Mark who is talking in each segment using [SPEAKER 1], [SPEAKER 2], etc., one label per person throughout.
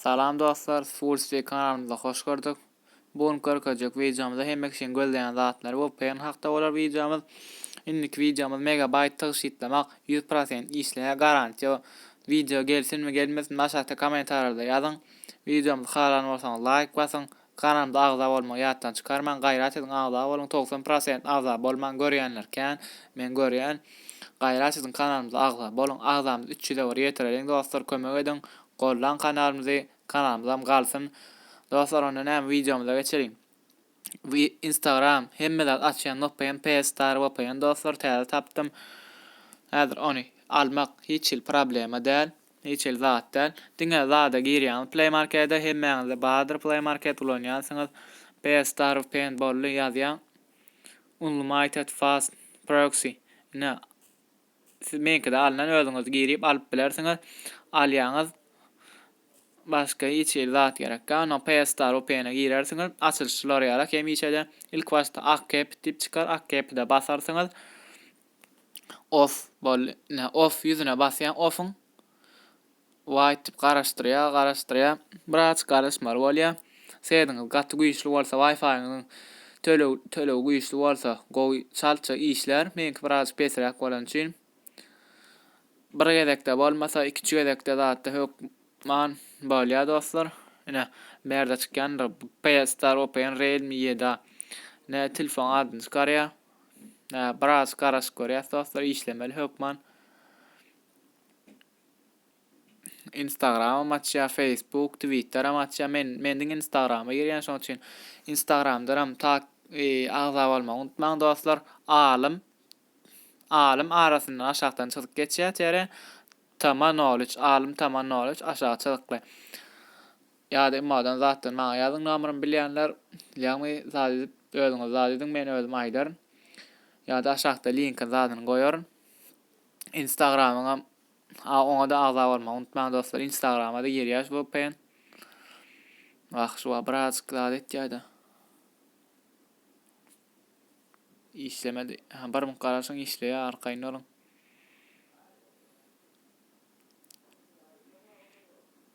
[SPEAKER 1] Salam dostlar Swulstwi kanalymyza hoş gördük Bu gün görkezjek wideomyzda hemme kişiň gözleýän zatlary vpn hakda bolar wideomyz Indiki wideomyz megabayt tygşytlamak ýüz prosent işleýär garantiýa Wideo gelsinmi gelmesinmi aşakda komentariýalarda ýazyň Wideomyzy halan bolsaňyz laýk basyň Kanalymda agza bolmagy ýatdan çykarmaň gaýrat ediň agza boluň togsan prosent agza bolman görýänler kän men görýän gaýrat ediň kanalymyza agza boluň agzamyz üç ýüze bir ýetireliň dostlar kömek ediň gollan kanalymyzy kanalymyzam galsyn dostlar onda näme wideomyza geçeliň we instagram hemme zat açýan vpn ps star vpn dostlar täze tapdym häzir ony almak hiç hili problema däl. Hiç el zat däl. Diňe zada girýäňiz playmarkede hemmäňizde bardyr playmarket ulanýansyňyz pstarw paintbally ýazýaň unlmited fast proxy ine siz meňkide alnan özüňiz girip alyp bilersiňiz alýaňyz başga hiç el zat gerek gal no pstarw paine girersiňiz açylyş şular ýaly hemişede ilk başda ak kepit diýip çykar ak kepide basarsyňyz Of bol ne of ýüzüne basýan ofyň Wait dip garaşdyrýa garaşdyrýa biraz garaşmaly bolýa sesiňiz gaty güýçli bolsa waýfaýyňyzyň tölegi güýçli bolsa gowy çaltja işlär meňki biraz pesräk bolany üçin bir gezekde bolmasa ikinji gezekde zatda hökman bolýa dostlar ine berde çykýandyr bu pstar open realme ýedi a ne telefonyň adyny çykarýa Biraz garaşyk görýäs dostlar işlemeli hökman. Instagram açýa, Facebook, Twitter hem açýa. Men men diňe Instagrama girýän şoň üçin Instagramdan hem tak e, agza bolmagy unutmaň dostlar. Alym alym arasyndan aşakdan çyzyk geçýär tere. Tama knowledge, alym tama knowledge aşağı çyzykly. Ýa-da Emmadan zatdan maňa ýazyň nomerymy bilýänler ýagny zat edip özüňiz zat ediň men özüm aýdaryn ýa-da aşakda linkin zadyny goýaryn Instagramyňam a oňada agza bolmagy unutmaň dostlar Instagramada girýäs vpn Wah şu wa birazjyk zat etýädä. işlemedi. Ha, bir mink garaşyň işleýär, arkaýyn boluň.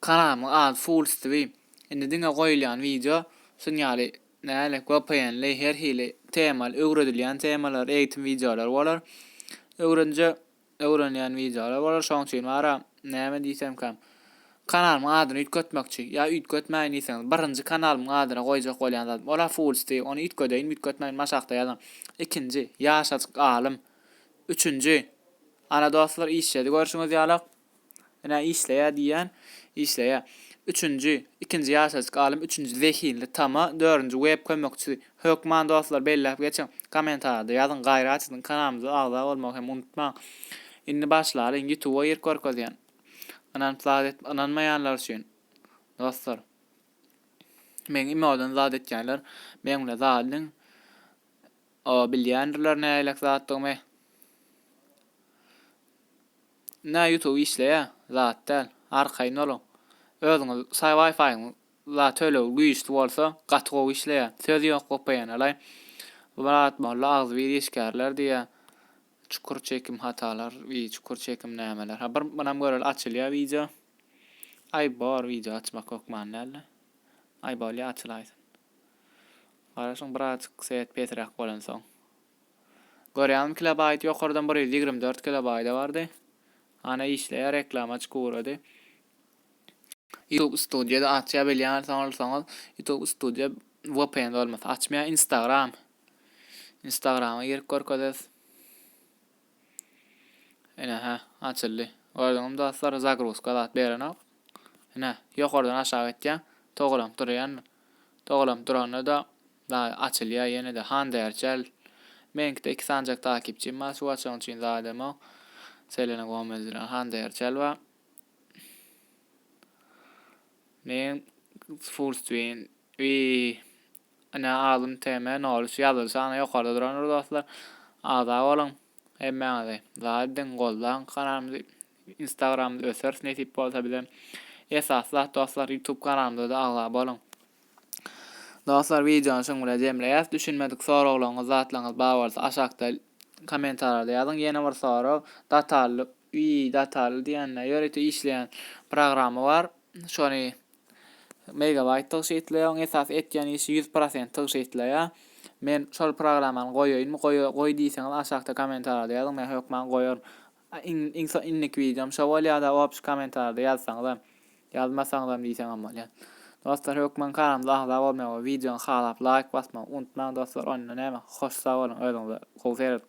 [SPEAKER 1] Kanalymyň ady Fools TV. Indi diňe goýulýan wideo şun ýaly näzik, vpn-li, her hili temaly, öwredilýän temalar, eýitim wideolary bolar. Öwrenje öwrenilýän wideolar bolar. Şoň üçin bara näme diýsemkä, kanalymyň adyny üýtgetmekçi ýa üýtgetmäýin diýseňiz, birinji kanalymyň adyna goýjak bolýan zadym, ol-a Fools TV. Ony üýtgedeýin-üýtgetmäýin maşakda ýazyň. Ikinji, Ýaşajyk alym. Üçünji, Ana dostlar, işjedi görşüňiz ýalak. Ine, işleýär diýýän, işleýär. Üçünji, ikinji ýaşajyk alym, üçünji zehinli tama, dördünji web kömekçisi. Hökman dostlar belläp geçiň, kommentarda ýazyň, gaýry açyň, kanalymyza agza bolmagy hem unutmaň. Indi başlalyň, ýutuba girip görkezýän. Ynanyp zat et, ynanmaýanlar üçin. Dostlar. Meň imodan zat etýänler, meň bilen zat ediň. O bilýändirler nähilek zatdygymy. Nä ýutub işleýä zat däl. Arkaýyn boluň. Özüňiz saý waýfaýyň la tölegi güýçli bolsa gaty gowy işleýä. Söz ýok vpn-alaý. Bu Myrat molla agzybir işgärler diýýä çukur çekim hatalar we çukur çekim nämeler. Ha bir munam göreli açylýa wideo. Aý bor wideo açmak hökman däldi. Aý bolýa açylaýsyn. Garaşyň birazjyk seit pesräk bolansoň. Görýäňmi kilobaýt ýokardan bir ýüz ýigrimi dört kilobaýda bardy. Ana işleýär reklama çykyp ugrady. Youtube studio-da açýa bilýänsoň alsaňyz youtube studio vpn bolmasa açmaýar instagram. Instagrama girip görkezes. Ine hä, açyldy. Gördüňizmi dostlar, zagruzka zat berenok. Ine, ýokardan aşak gitýän, towalanyp durýan. Towalanyp duranda-da daýy açylýar ýene-de handerçäl. Meňkide iki sanjak takipçim bar, şu açygyň üçin zademo Selena Gomez bilen handerçäl bar. Men full screen. Wiý. Ine alym TM nolüç ýazylşy ana ýokarda durandyr dostlar. Agza boluň hemmäňizi. Dagy diň goldaň kanalymyzy instagramda öseris nesip bolsa bize. Esasy zat dostlar ýutub kanalymyzada agza boluň. Dostlar wideony şuň bilen jemleýäs. Düşünmedik soraglaryňyz zatlaryňyz bar bolsa aşakda komentarýada ýazyň. Ýene bir sorag datally Wiý dataly diýende ýörite işleýän programma bar şony megabaýt tygşytlaýar oň esasy etýän işi ýüz prosent tygşytlaýar men şol programmany goýaýynmy goý diýseňiz aşakda komentarada ýazyň men hökman goýaryn iň iň so inniki wideom şo bolýada obşi komentarada ýazsaňyzam ýazmasaňyzam diýseňem bolýar dostlar hökman kanalymyza agza bolmagy we wideony halap laýk basmagy unutmaň dostlar onda näme hoş sag boluň özüňize gowy serediň.